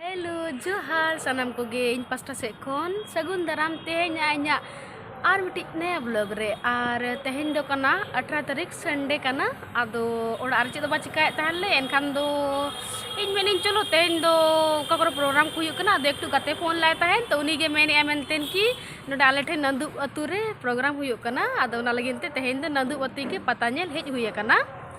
hello ᱡᱚᱦᱟᱨ ᱥᱟᱱᱟᱢ ᱠᱚᱜᱮ ᱤᱧ ᱯᱟᱥᱴᱟ ᱥᱮᱫ ᱠᱷᱚᱱ ᱥᱟᱹᱜᱩᱱ ᱫᱟᱨᱟᱢ ᱛᱮᱦᱮᱧ ᱤᱧᱟᱹᱜ ᱟᱨ ᱢᱤᱫᱴᱤᱡ ᱱᱟᱭᱟ ᱵᱞᱚᱜ ᱨᱮ ᱟᱨ ᱛᱮᱦᱮᱧ ᱫᱚ ᱠᱟᱱᱟ ᱟᱴᱷᱨᱟ ᱛᱟᱹᱨᱤᱠᱷ ᱥᱟᱱᱰᱮ ᱠᱟᱱᱟ ᱟᱫᱚ ᱚᱲᱟᱜ ᱨᱮ ᱪᱮᱫ ᱫᱚ ᱵᱟᱝ ᱪᱤᱠᱟᱹᱭᱮᱫ ᱛᱟᱦᱮᱱ ᱞᱮ ᱮᱱᱠᱷᱟᱱ ᱫᱚ ᱤᱧ ᱢᱮᱱᱤᱧ ᱪᱚᱞᱚ ᱛᱮᱦᱮᱧ ᱫᱚ ᱚᱠᱟ ᱠᱚᱨᱮ ᱯᱨᱳᱜᱨᱟᱢ ᱠᱚ ᱦᱩᱭᱩᱜ ᱠᱟᱱᱟ ᱟᱫᱚ ᱮᱠᱴᱩ ᱜᱟᱛᱮ ᱯᱷᱳᱱ ᱞᱟᱭ ᱛᱟᱦᱮᱱ ᱛᱚ ᱩᱱᱤᱜᱮ ᱢᱮᱱᱮᱫᱼᱟ ᱢᱮᱱᱛᱮ ᱠᱤ ᱱᱚᱰᱮ ᱟᱞᱮ ᱴᱷᱮᱱ ᱱᱟᱹᱫᱩᱵ ᱟᱹᱛᱩ ᱨᱮ ᱯᱨᱳᱜᱨᱟᱢ ᱦᱩᱭᱩᱜ ᱠᱟᱱᱟ ᱟᱫᱚ ᱚᱱᱟ ᱞᱟᱹᱜᱤᱫ ᱛᱮ ᱛᱮᱦᱮᱧ ᱫᱚ ᱱᱟᱹᱫᱩᱵ ᱟᱹᱛᱩ ᱜᱮ ᱯᱟᱛᱟ ᱧᱮᱞ ᱦᱮᱡ ᱦᱩᱭ ᱟᱠᱟᱱᱟ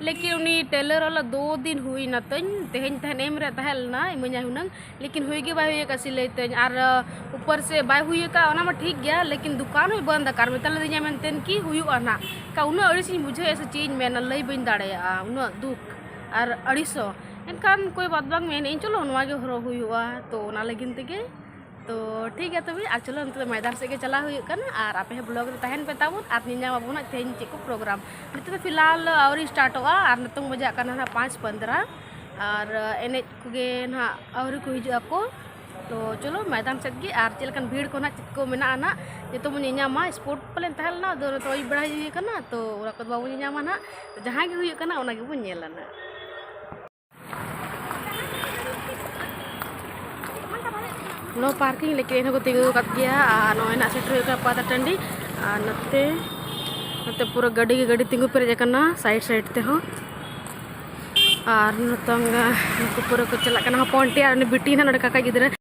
ᱞᱮᱠᱤᱱ ᱩᱱᱤ ᱴᱮᱞᱟᱨ ᱚᱞᱟ ᱫᱚ ᱫᱤᱱ ᱦᱩᱭ ᱱᱟ ᱛᱟᱹᱧ ᱛᱮᱦᱮᱧ ᱛᱟᱦᱮᱱ ᱮᱢ ᱨᱮ ᱛᱟᱦᱮᱸ ᱞᱮᱱᱟ ᱤᱢᱟᱹᱧᱟᱭ ᱦᱩᱱᱟᱹᱝ ᱞᱮᱠᱤᱱ ᱦᱩᱭ ᱜᱮ ᱵᱟᱭ ᱦᱩᱭ ᱟᱠᱟᱫ ᱥᱤᱞᱟᱹᱭ ᱛᱟᱹᱧ ᱟᱨ ᱩᱯᱚᱨ ᱥᱮ ᱵᱟᱭ ᱦᱩᱭ ᱟᱠᱟᱫ ᱚᱱᱟ ᱢᱟ ᱴᱷᱤᱠ ᱜᱮᱭᱟ ᱞᱮᱠᱤᱱ ᱫᱚᱠᱟᱱ ᱦᱚᱸᱭ ᱵᱚᱱᱫ ᱟᱠᱟᱫ ᱢᱮᱛᱟ ᱞᱮᱫᱤᱧᱟ ᱢᱮᱱᱛᱮ ᱠᱤ ᱦᱩᱭᱩᱜᱼᱟ ᱱᱟᱜ ᱠᱟ ᱩᱱᱟᱹᱜ ᱟᱹᱲᱤᱥ ᱤᱧ ᱵᱩᱡᱷᱟᱹᱣᱮᱫᱼᱟ ᱥᱮ ᱪᱮᱫ ᱤᱧ ᱢᱮᱱᱟ ᱞᱟᱹᱭ ᱵᱟᱹᱧ ᱫᱟᱲᱮᱭᱟᱜᱼᱟ ᱩᱱᱟᱹᱜ ᱫᱩᱠ ᱟᱨ ᱟᱹᱲᱤᱥᱚᱜ ᱮᱱᱠᱷᱟᱱ ᱠᱳᱭ ᱵᱟᱛ ᱵᱟᱝ ᱢᱮᱱᱮᱫᱼᱟᱹᱧ ᱪᱚᱞᱚ ᱱᱚᱣᱟ ᱜᱮ ᱦᱚᱨᱚᱜ ᱦᱩᱭᱩᱜᱼᱟ ᱛᱳ ᱚᱱᱟ ᱞᱟᱹᱜᱤᱫ ᱛᱮᱜᱮ ᱛᱚ ᱴᱷᱤᱠ ᱜᱮᱭᱟ ᱛᱚᱵᱮ ᱟᱨ ᱪᱚᱞᱚ ᱱᱤᱛᱚᱜ ᱢᱚᱭᱫᱟᱱ ᱥᱮᱫ ᱜᱮ ᱪᱟᱞᱟᱣ ᱦᱩᱭᱩᱜ ᱠᱟᱱᱟ ᱟᱨ ᱟᱯᱮ ᱦᱚᱸ ᱵᱞᱚᱜ ᱨᱮ ᱛᱟᱦᱮᱱ ᱯᱮ ᱛᱟᱵᱚᱱ ᱟᱨ ᱧᱮᱧᱟᱢ ᱟᱵᱚᱱ ᱦᱟᱸᱜ ᱛᱮᱦᱮᱧ ᱪᱮᱫ ᱠᱚ ᱯᱨᱳᱜᱨᱟᱢ ᱱᱤᱛᱚᱜ ᱫᱚ ᱯᱷᱤᱞᱦᱟᱞ ᱟᱹᱣᱨᱤ ᱥᱴᱟᱨᱴᱚᱜᱼᱟ ᱟᱨ ᱱᱤᱛᱚᱝ ᱵᱟᱡᱟᱜ ᱠᱟᱱᱟ ᱦᱟᱸᱜ ᱯᱟᱸᱪ ᱯᱚᱱᱫᱨᱟ ᱟᱨ ᱮᱱᱮᱡ ᱠᱚᱜᱮ ᱱᱟᱦᱟᱜ ᱟᱹᱣᱨᱤ ᱠᱚ ᱦᱤᱡᱩᱜ ᱟᱠᱚ ᱛᱚ ᱪᱚᱞᱚ ᱢᱚᱭᱫᱟᱱ ᱥᱮᱫ ᱜᱮ ᱟᱨ ᱪᱮᱫ ᱞᱮᱠᱟᱱ ᱵᱷᱤᱲ ᱠᱚ ᱱᱟᱦᱟᱜ ᱪᱮᱫ ᱠᱚ ᱢᱮᱱᱟᱜᱼᱟ ᱱᱟᱦᱟᱜ ᱡᱚᱛᱚ ᱵᱚᱱ ᱧᱮᱧᱟᱢᱟ ᱥᱯᱳᱨᱴ ᱯᱟᱞᱮᱱ ᱛᱟᱦᱮᱸ ᱞᱮᱱᱟ ᱟᱫᱚ ᱱᱤᱛᱚᱜ ᱟᱹᱭᱩᱵ ᱵᱮᱲᱟ ᱦᱩᱭ ᱠᱟᱱᱟ ᱛᱚ ᱚᱱᱟ ᱠᱚᱫᱚ ᱵᱟᱵᱚᱱ ᱧᱮᱧᱟᱢᱟ ᱱᱟᱦᱟᱜ ᱡᱟᱦᱟᱸ ᱜᱮ ᱦᱩᱭᱩᱜ ᱠᱟᱱᱟ ᱚᱱᱟ ᱜᱮᱵᱚᱱ ᱧᱮᱞᱟ ᱱᱟᱦᱟᱜ ᱱᱚ ᱯᱟᱨᱠᱤᱝ ᱞᱮᱠᱟ ᱮᱱᱦᱚᱸ ᱠᱚ ᱛᱤᱸᱜᱩ ᱟᱠᱟᱫ ᱜᱮᱭᱟ ᱟᱨ ᱱᱚᱜᱼᱚᱭ ᱱᱟᱜ ᱥᱮᱴᱮᱨ ᱦᱩᱭᱩᱜ ᱠᱟᱱᱟ ᱯᱟᱛᱟ ᱴᱟᱺᱰᱤ ᱟᱨ ᱱᱚᱛᱮ ᱱᱚᱛᱮ ᱯᱩᱨᱟᱹ ᱜᱟᱹᱰᱤ ᱜᱮ ᱜᱟᱹᱰᱤ ᱛᱤᱸᱜᱩ ᱯᱮᱨᱮᱡ ᱟᱠᱟᱱᱟ ᱥᱟᱭᱤᱰ ᱥᱟᱭᱤᱰ ᱛᱮᱦᱚᱸ ᱟᱨ ᱱᱤᱛᱚᱝ ᱱᱩᱠᱩ ᱯᱩᱨᱟᱹ ᱠᱚ ᱪᱟᱞᱟᱜ ᱠᱟᱱᱟ ᱦᱚᱯᱚᱱ ᱴᱤ ᱟᱨ ᱩᱱᱤ ᱵᱤᱴᱤ ᱱᱟᱜ ᱱᱚᱰᱮ ᱠᱟᱠᱟ ᱜᱤᱫᱽᱨᱟᱹ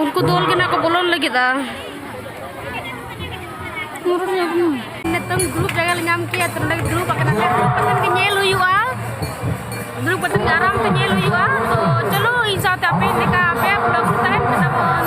ᱩᱱᱠᱩ ᱫᱚᱞ ᱜᱮ ᱱᱟᱜ ᱠᱚ ᱵᱚᱞᱚᱱ ᱞᱟᱹᱜᱤᱫᱼᱟ ᱱᱤᱛᱚᱝ ᱫᱩᱲᱩᱵ ᱡᱟᱭᱜᱟ ᱞᱮ ᱧᱟᱢ ᱠᱮᱭᱟ ᱛᱚ ᱱᱚᱰᱮ ᱫᱩᱲᱩᱵ ᱟᱠᱟᱱᱟ ᱫᱩᱲᱩᱵ ᱠᱟᱛᱮᱫ ᱜᱮ ᱧᱮᱞ ᱦᱩᱭᱩᱜᱼᱟ ᱫᱩᱲᱩᱵ ᱠᱟᱛᱮᱫ ᱜᱮ ᱟᱨᱟᱢ ᱛᱮ ᱧᱮᱞ ᱦᱩᱭᱩᱜᱼᱟ ᱛᱚ ᱪᱚᱞᱚ ᱤᱧ ᱥᱟᱶᱛᱮ ᱟᱯᱮ ᱞᱮᱠᱟ ᱟᱯᱮ ᱵᱞᱚᱜ ᱛᱟᱦᱮᱱ ᱠᱟᱱᱟ ᱵᱚᱱ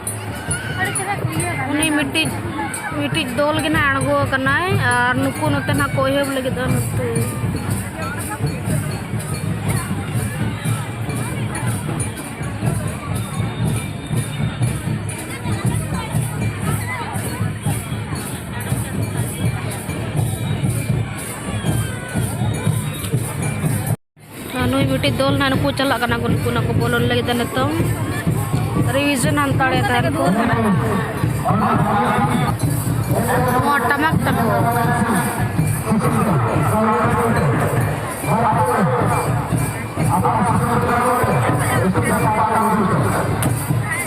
ᱩᱱᱤ ᱢᱤᱫᱴᱤᱡ ᱢᱤᱫᱴᱤᱡ ᱫᱚᱞ ᱜᱮ ᱱᱟᱜ ᱟᱬᱜᱚ ᱟᱠᱟᱱᱟᱭ ᱟᱨ ᱱᱩᱠᱩ ᱱᱚᱛᱮ ᱱᱟᱜ ᱠᱚ ᱮᱦᱚᱵ ᱞᱟᱹᱜᱤᱫ ᱫᱚ ᱱᱚᱛᱮ ᱱᱩᱭ ᱢᱤᱫᱴᱤᱡ ᱫᱚᱞ ᱱᱟᱦᱟᱜ ᱱᱩᱠᱩ ᱪᱟᱞᱟᱜ ᱠᱟᱱᱟ ᱠᱚ ᱱᱩᱠᱩ ᱱᱟᱠᱚ ᱵᱚᱞᱚᱱ ᱞᱟᱹᱜᱤᱫ ᱱᱤᱛᱚᱝ ᱨᱤᱵᱷᱤᱡᱚᱱ ᱦᱟᱱᱛᱟᱲᱮ ᱛᱟᱦᱮᱱ ᱠᱚ ᱱᱚᱣᱟ ᱴᱟᱢᱟᱠ ᱛᱟᱠᱚ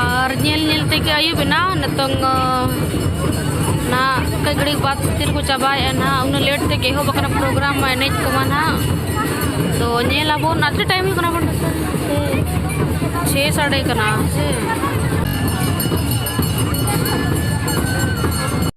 ᱟᱨ ᱧᱮᱞ ᱧᱮᱞ ᱛᱮᱜᱮ ᱟᱹᱭᱩᱵ ᱮᱱᱟ ᱱᱤᱛᱚᱝ ᱱᱟ ᱠᱟᱹᱡ ᱜᱷᱟᱹᱲᱤᱡ ᱵᱟᱫ ᱛᱤᱨ ᱠᱚ ᱪᱟᱵᱟᱭᱮᱜᱼᱟ ᱱᱟ ᱩᱱᱟᱹᱜ ᱞᱮᱴ ᱛᱮᱜᱮ ᱮᱦᱚᱵ ᱟᱠᱟᱱᱟ ᱯᱨᱳᱜᱨᱟᱢ ᱢᱟ ᱮᱱᱮᱡ ᱠᱚᱢᱟ ᱱᱟ ᱛᱚ ᱧᱮᱞ ᱟᱵᱚᱱ ᱟᱨ ᱪᱮᱫ ᱴᱟᱭᱤᱢ ᱦᱩᱭᱩᱜ ᱠᱟᱱᱟ ᱵᱚᱱ ᱪᱷᱮ ᱥᱟᱰᱮ ᱠᱟᱱᱟ ᱥᱮ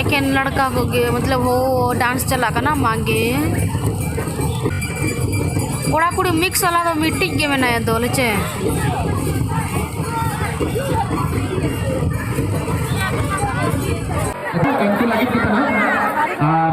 ᱮᱠᱮᱱ ᱞᱟᱲᱠᱟ ᱠᱚᱜᱮ ᱢᱚᱛᱞᱚᱵ ᱦᱳ ᱰᱟᱱᱥ ᱪᱟᱞᱟᱜ ᱠᱟᱱᱟ ᱢᱟᱜᱮ ᱠᱚᱲᱟ ᱠᱩᱲᱤ ᱢᱤᱠᱥ ᱟᱞᱟ ᱫᱚ ᱢᱤᱫᱴᱤᱡ ᱜᱮ ᱢᱮᱱᱟᱭᱟ ᱫᱚ ᱞᱮᱪᱮ ᱩᱱᱠᱩ ᱞᱟᱹᱜᱤᱫ ᱜᱮ ᱠᱟᱱᱟ ᱟᱨ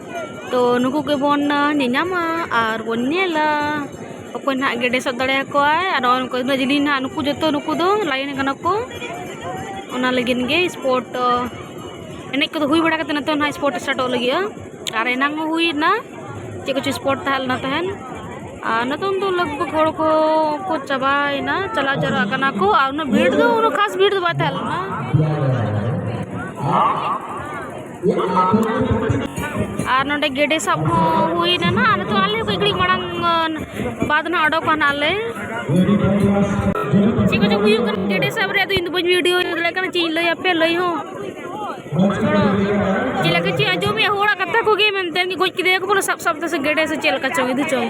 ᱛᱚ ᱱᱩᱠᱩ ᱜᱮᱵᱚᱱ ᱧᱮᱧᱟᱢᱟ ᱟᱨ ᱵᱚᱱ ᱧᱮᱞᱟ ᱚᱠᱚᱭ ᱱᱟᱦᱟᱜ ᱜᱮᱰᱮ ᱥᱟᱵ ᱫᱟᱲᱮᱭᱟᱠᱚᱣᱟᱭ ᱟᱨ ᱱᱚᱜᱼᱚᱭ ᱱᱩᱠᱩ ᱩᱱᱟᱹᱜ ᱡᱤᱞᱤᱧ ᱱᱟᱦᱟᱜ ᱱᱩᱠᱩ ᱡᱚᱛᱚ ᱱᱩᱠᱩ ᱫᱚ ᱞᱟᱭᱚᱱ ᱠᱟᱱᱟ ᱠᱚ ᱚᱱᱟ ᱞᱟᱹᱜᱤᱫ ᱜᱮ ᱥᱯᱳᱨᱴ ᱫᱚ ᱮᱱᱮᱡ ᱠᱚᱫᱚ ᱦᱩᱭ ᱵᱟᱲᱟ ᱠᱟᱛᱮᱫ ᱱᱤᱛᱚᱜ ᱱᱟᱦᱟᱜ ᱥᱯᱳᱨᱴ ᱥᱴᱟᱨᱴᱚᱜ ᱞᱟᱹᱜᱤᱫᱼᱟ ᱟᱨ ᱮᱱᱟᱝ ᱦᱚᱸ ᱦᱩᱭᱱᱟ ᱪᱮᱫ ᱠᱚᱪᱚ ᱥᱯᱳᱨᱴ ᱛᱟᱦᱮᱸ ᱞᱮᱱᱟ ᱛᱟᱦᱮᱸᱫ ᱟᱨ ᱱᱤᱛᱚᱝ ᱫᱚ ᱞᱟᱜᱽ ᱵᱷᱟᱜᱽ ᱦᱚᱲ ᱠᱚ ᱠᱚ ᱪᱟᱵᱟᱭᱮᱱᱟ ᱪᱟᱞᱟᱣ ᱡᱟᱣᱨᱟᱜ ᱠᱟᱱᱟ ᱠᱚ ᱟᱨ ᱩᱱᱟᱹᱜ ᱵᱷᱤᱲ ᱫᱚ ᱩᱱᱟᱹᱜ ᱠᱷᱟᱥ ᱵᱷᱤᱲ ᱫᱚ ᱵᱟᱭ ᱛᱟᱦᱮᱸ ᱞᱮᱱᱟ ᱟᱨ ᱱᱚᱰᱮ ᱜᱮᱰᱮ ᱥᱟᱵ ᱦᱚᱸ ᱦᱩᱭᱱᱟ ᱱᱟᱜ ᱟᱨ ᱱᱤᱛᱚᱜ ᱟᱞᱮ ᱠᱟᱹᱡ ᱜᱷᱟᱹᱲᱤᱡ ᱢᱟᱲᱟᱝ ᱵᱟᱫᱽ ᱱᱟᱜ ᱚᱰᱚᱠᱚᱜᱼᱟ ᱱᱟᱜ ᱞᱮ ᱪᱮᱫ ᱠᱚᱪᱚ ᱦᱩᱭᱩᱜ ᱠᱟᱱᱟ ᱜᱮᱰᱮ ᱥᱟᱵ ᱨᱮᱭᱟᱜ ᱫᱚ ᱤᱧ ᱫᱚ ᱵᱟᱹᱧ ᱵᱷᱤᱰᱤᱭᱳ ᱫᱟᱲᱮᱭᱟᱜ ᱠᱟᱱᱟ ᱪᱮᱫ ᱤᱧ ᱞᱟᱹᱭ ᱟᱯᱮ ᱞᱟᱹᱭ ᱦᱚᱸ ᱪᱮᱫ ᱞᱮᱠᱟ ᱪᱮᱫ ᱟᱸᱡᱚᱢᱮᱫ ᱦᱚᱲᱟᱜ ᱠᱟᱛᱷᱟ ᱠᱚᱜᱮ ᱢᱮᱱᱛᱮ ᱜᱚᱡ ᱠᱮᱫᱮᱭᱟ ᱠᱚ ᱵᱚᱞᱮ ᱥᱟᱵ ᱥᱟᱵ ᱛᱮ ᱥᱮ ᱜᱮᱰᱮ ᱥᱮ ᱪᱮᱫ ᱞᱮᱠᱟ ᱪᱚᱝ ᱤᱫᱤ ᱪᱚᱝ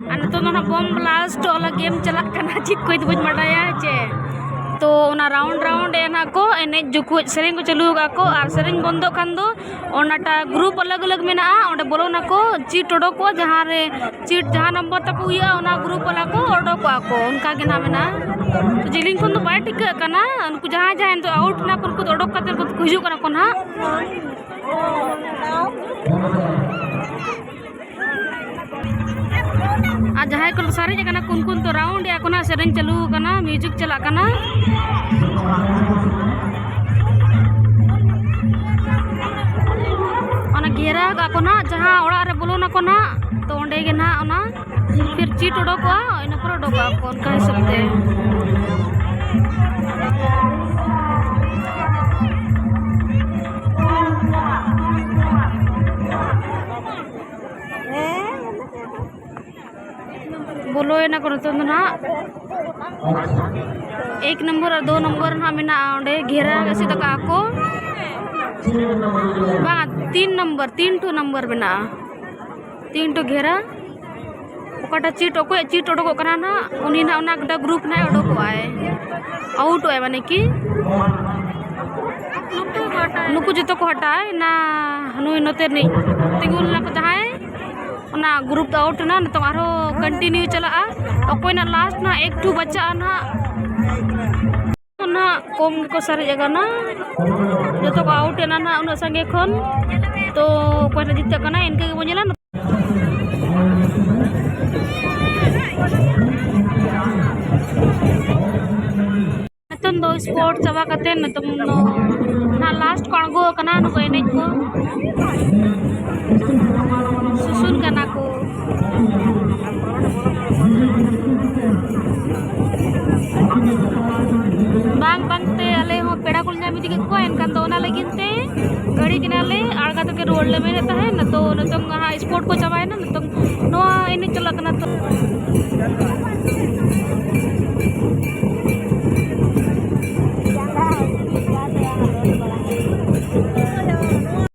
ᱟᱨ ᱱᱤᱛᱚᱜ ᱫᱚ ᱱᱟᱦᱟᱜ ᱵᱚᱢ ᱵᱞᱟᱥᱴ ᱚᱞᱟ ᱜᱮᱢ ᱪᱟᱞᱟᱜ ᱠᱟᱱᱟ ᱪᱮᱫ ᱠᱚ ᱤᱧ ᱫᱚ ᱵᱟᱹᱧ ᱵᱟᱰᱟᱭᱟ ᱪᱮ ᱛᱚ ᱚᱱᱟ ᱨᱟᱣᱩᱱᱰ ᱨᱟᱣᱩᱱᱰ ᱮ ᱱᱟᱦᱟᱜ ᱠᱚ ᱮᱱᱮᱡ ᱡᱚᱠᱷᱚᱡ ᱥᱮᱨᱮᱧ ᱠᱚ ᱪᱟᱹᱞᱩ ᱟᱠᱟᱫ ᱠᱚ ᱟᱨ ᱥᱮᱨᱮᱧ ᱵᱚᱱᱫᱚᱜ ᱠᱷᱟᱱ ᱫᱚ ᱚᱱᱟᱴᱟᱜ ᱜᱨᱩᱯ ᱟᱞᱟᱜᱽ ᱟᱞᱟᱜᱽ ᱢᱮᱱᱟᱜᱼᱟ ᱚᱸᱰᱮ ᱵᱚᱞᱚᱱᱟᱠᱚ ᱪᱤᱴ ᱚᱰᱚᱠᱚᱜᱼᱟ ᱡᱟᱦᱟᱸ ᱨᱮ ᱪᱤᱴ ᱡᱟᱦᱟᱸ ᱱᱚᱢᱵᱚᱨ ᱛᱟᱠᱚ ᱦᱩᱭᱩᱜᱼᱟ ᱚᱱᱟ ᱜᱨᱩᱯ ᱵᱟᱞᱟ ᱠᱚ ᱚᱰᱚᱠᱚᱜᱼᱟ ᱠᱚ ᱚᱱᱠᱟ ᱜᱮ ᱱᱟᱦᱟᱜ ᱢᱮᱱᱟᱜᱼᱟ ᱡᱤᱞᱤᱧ ᱠᱷᱚᱱ ᱫᱚ ᱵᱟᱭ ᱴᱷᱤᱠᱟᱹᱜ ᱠᱟᱱᱟ ᱩᱱᱠᱩ ᱡᱟᱦᱟᱸᱭ ᱡᱟᱦᱟᱸᱭ ᱱᱤᱛᱚᱜ ᱟᱣᱩᱴ ᱮᱱᱟ ᱠᱚ ᱩᱱᱠᱩ ᱫᱚ ᱚᱰᱚᱠ ᱠᱟᱛᱮᱫ ᱠᱚ ᱦᱤᱡᱩᱜ ᱠᱟᱱᱟ ᱠᱚ ᱱᱟᱦᱟᱜ ᱟᱨ ᱡᱟᱦᱟᱸᱭ ᱠᱚ ᱥᱟᱨᱮᱡ ᱟᱠᱟᱱᱟ ᱠᱚ ᱩᱱᱠᱩ ᱫᱚ ᱨᱟᱣᱩᱱᱰ ᱮᱫᱟ ᱠᱚ ᱱᱟᱜ ᱥᱮᱨᱮᱧ ᱪᱟᱹᱞᱩ ᱟᱠᱟᱱᱟ ᱢᱤᱭᱩᱡᱤᱠ ᱪᱟᱞᱟᱜ ᱠᱟᱱᱟ ᱚᱱᱟ ᱜᱷᱮᱨᱟᱣ ᱠᱟᱜ ᱠᱚ ᱱᱟᱜ ᱡᱟᱦᱟᱸ ᱚᱲᱟᱜ ᱨᱮ ᱵᱚᱞᱚᱱᱟ ᱠᱚ ᱱᱟᱜ ᱛᱚ ᱚᱸᱰᱮ ᱜᱮ ᱱᱟᱜ ᱚᱱᱟ ᱯᱷᱤᱨ ᱪᱤᱴ ᱚᱰᱚᱠᱚᱜᱼᱟ ᱤᱱᱟᱹ ᱯᱚᱨᱮ ᱚᱰᱚᱠᱚᱜᱼᱟ ᱠᱚ ᱚᱱᱠᱟ ᱦᱤᱥᱟᱹᱵ ᱛᱮ ᱵᱚᱞᱚᱭᱮᱱᱟ ᱠᱚ ᱱᱤᱛᱚᱝ ᱫᱚ ᱱᱟᱦᱟᱜ ᱮᱠ ᱱᱚᱢᱵᱚᱨ ᱟᱨ ᱫᱳ ᱱᱚᱢᱵᱚᱨ ᱱᱟᱦᱟᱜ ᱢᱮᱱᱟᱜᱼᱟ ᱚᱸᱰᱮ ᱜᱷᱮᱨᱟ ᱮᱥᱮᱫ ᱟᱠᱟᱫᱼᱟ ᱠᱚ ᱵᱟᱝ ᱛᱤᱱ ᱱᱚᱢᱵᱚᱨ ᱛᱤᱱ ᱴᱩ ᱱᱚᱢᱵᱚᱨ ᱢᱮᱱᱟᱜᱼᱟ ᱛᱤᱱ ᱴᱩ ᱜᱷᱮᱨᱟ ᱚᱠᱟᱴᱟᱜ ᱪᱤᱴ ᱚᱠᱚᱭᱟᱜ ᱪᱤᱴ ᱚᱰᱚᱠᱚᱜ ᱠᱟᱱᱟ ᱱᱟᱜ ᱩᱱᱤ ᱱᱟᱜ ᱚᱱᱟ ᱜᱚᱴᱟ ᱜᱨᱩᱯ ᱱᱟᱜ ᱚᱰᱚᱠᱚᱜ ᱟᱭ ᱟᱣᱩᱴᱚᱜ ᱟᱭ ᱢᱟᱱᱮ ᱠᱤ ᱱᱩᱠᱩ ᱡᱚᱛᱚ ᱠᱚ ᱦᱟᱴᱟᱜᱼᱟ ᱚᱱᱟ ᱱᱩᱭ ᱱᱚᱛᱮ ᱨᱤᱱᱤᱡ ᱛᱤᱸᱜᱩ ᱞᱮᱱᱟ ᱠᱚ ᱡᱟᱦᱟᱸᱭ ᱚᱱᱟ ᱜᱨᱩᱯ ᱫᱚ ᱟᱣᱩᱴ ᱮᱱᱟ ᱱᱤᱛᱚᱝ ᱟᱨᱦᱚᱸ ᱠᱚᱱᱴᱤᱱᱤᱭᱩ ᱪᱟᱞᱟᱜᱼᱟ ᱚᱠᱚᱭ ᱱᱟᱜ ᱞᱟᱥᱴ ᱱᱟᱜ ᱮᱠᱴᱩ ᱵᱟᱪᱟᱜᱼᱟ ᱱᱟᱜ ᱱᱟᱦᱟᱜ ᱠᱚᱢ ᱜᱮᱠᱚ ᱥᱟᱨᱮᱡ ᱟᱠᱟᱱᱟ ᱡᱚᱛᱚ ᱠᱚ ᱟᱣᱩᱴ ᱮᱱᱟ ᱱᱟᱦᱟᱜ ᱩᱱᱟᱹᱜ ᱥᱟᱸᱜᱮ ᱠᱷᱚᱱ ᱛᱚ ᱚᱠᱚᱭ ᱱᱟᱦᱟᱜ ᱡᱤᱛᱟᱹᱜ ᱠᱟᱱᱟ ᱤᱱᱠᱟᱹ ᱜᱮᱵᱚᱱ ᱧᱮᱞᱟ ᱱᱤᱛᱚᱝ ᱫᱚ ᱥᱯᱳᱨᱴ ᱪᱟᱵᱟ ᱠᱟᱛᱮᱫ ᱱᱤᱛᱚᱝ ᱫᱚ ᱱᱟᱦᱟᱜ ᱞᱟᱥᱴ ᱠᱚ ᱟᱬᱜᱚ ᱟᱠᱟᱱᱟ ᱱᱩᱠᱩ ᱮᱱᱮᱡ ᱠᱚ ᱵᱟᱝ ᱵᱟᱝᱛᱮ ᱟᱞᱮ ᱦᱚᱸ ᱯᱮᱲᱟ ᱠᱚᱞᱮ ᱧᱟᱢ ᱤᱫᱤ ᱠᱮᱫ ᱠᱚᱣᱟ ᱮᱱᱠᱷᱟᱱ ᱫᱚ ᱚᱱᱟ ᱞᱟᱹᱜᱤᱫ ᱛᱮ ᱜᱟᱹᱲᱤ ᱠᱮᱱᱟᱞᱮ ᱟᱬᱜᱟ ᱛᱮᱜᱮ ᱨᱩᱣᱟᱹᱲ ᱞᱮ ᱢᱮᱱᱮᱫ ᱛᱟᱦᱮᱸᱫ ᱱᱤᱛᱚᱜ ᱱᱤᱛᱚᱝ ᱦᱟᱸᱜ ᱥᱯᱳᱨᱴ ᱠᱚ ᱪᱟᱵᱟᱭᱮᱱᱟ ᱱᱤᱛᱚᱝ ᱱᱚᱣᱟ ᱮᱱᱮᱡ ᱪᱟᱞᱟᱜ ᱠᱟᱱᱟ ᱛᱚ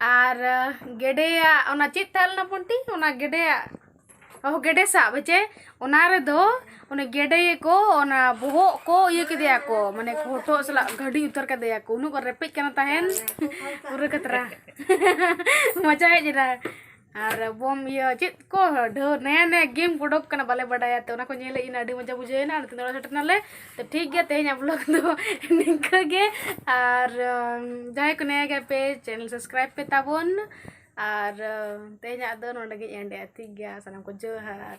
ᱟᱨ ᱜᱮᱰᱮᱭᱟᱜ ᱚᱱᱟ ᱪᱮᱫ ᱛᱟᱦᱮᱸ ᱞᱮᱱᱟ ᱵᱚᱱᱴᱤ ᱚᱱᱟ ᱜᱮᱰᱮᱭᱟᱜ ᱚ ᱜᱮᱰᱮ ᱥᱟᱵ ᱦᱮᱸᱥᱮ ᱚᱱᱟ ᱨᱮᱫᱚ ᱩᱱᱤ ᱜᱮᱰᱮ ᱜᱮᱠᱚ ᱚᱱᱟ ᱵᱚᱦᱚᱜ ᱠᱚ ᱤᱭᱟᱹ ᱠᱮᱫᱮᱭᱟ ᱠᱚ ᱢᱟᱱᱮ ᱦᱚᱴᱚᱜ ᱥᱟᱞᱟᱜ ᱜᱷᱟᱹᱰᱤ ᱩᱛᱟᱹᱨ ᱠᱟᱫᱮᱭᱟ ᱠᱚ ᱩᱱᱟᱹᱜ ᱠᱚ ᱨᱮᱯᱮᱡ ᱠᱟᱱᱟ ᱛᱟᱦᱮᱱ ᱯᱩᱨᱟᱹ ᱠᱷᱟᱛᱨᱟ ᱢᱚᱡᱟ ᱦᱮᱡ ᱮᱱᱟ ᱟᱨ ᱵᱚᱢ ᱤᱭᱟᱹ ᱪᱮᱫ ᱠᱚ ᱰᱷᱮᱨ ᱱᱟᱭᱟ ᱱᱟᱭᱟ ᱜᱮᱢ ᱠᱚ ᱚᱰᱚᱠ ᱠᱟᱱᱟ ᱵᱟᱞᱮ ᱵᱟᱰᱟᱭᱟ ᱛᱚ ᱚᱱᱟ ᱠᱚ ᱧᱮᱞ ᱦᱮᱡ ᱮᱱᱟ ᱟᱹᱰᱤ ᱢᱚᱡᱟ ᱵᱩᱡᱷᱟᱹᱣ ᱮᱱᱟ ᱱᱤᱛᱚᱜ ᱫᱚ ᱚᱲᱟᱜ ᱥᱮᱴᱮᱨ ᱮᱱᱟᱞᱮ ᱛᱚ ᱴᱷᱤᱠ ᱜᱮᱭᱟ ᱛᱮᱦᱮᱧᱟᱜ ᱵᱞᱚᱜᱽ ᱫᱚ ᱱᱤᱝᱠᱟᱹ ᱜᱮ ᱟᱨ ᱡᱟᱦᱟᱸᱭ ᱠᱚ ᱱᱟᱭᱟ ᱜᱮᱭᱟ ᱯᱮ ᱪᱮᱱᱮᱞ ᱥᱟᱵᱥᱠᱨᱟᱭᱤᱵᱽ ᱯᱮ ᱛᱟᱵᱚᱱ ᱟᱨ ᱛᱮᱦᱮᱧᱟᱜ ᱫᱚ ᱱᱚᱰᱮ ᱜᱮᱧ ᱮᱱᱰ ᱮᱫᱟ ᱴᱷᱤᱠ ᱜᱮᱭᱟ ᱥᱟᱱᱟᱢ ᱠᱚ ᱡᱚᱦᱟᱨ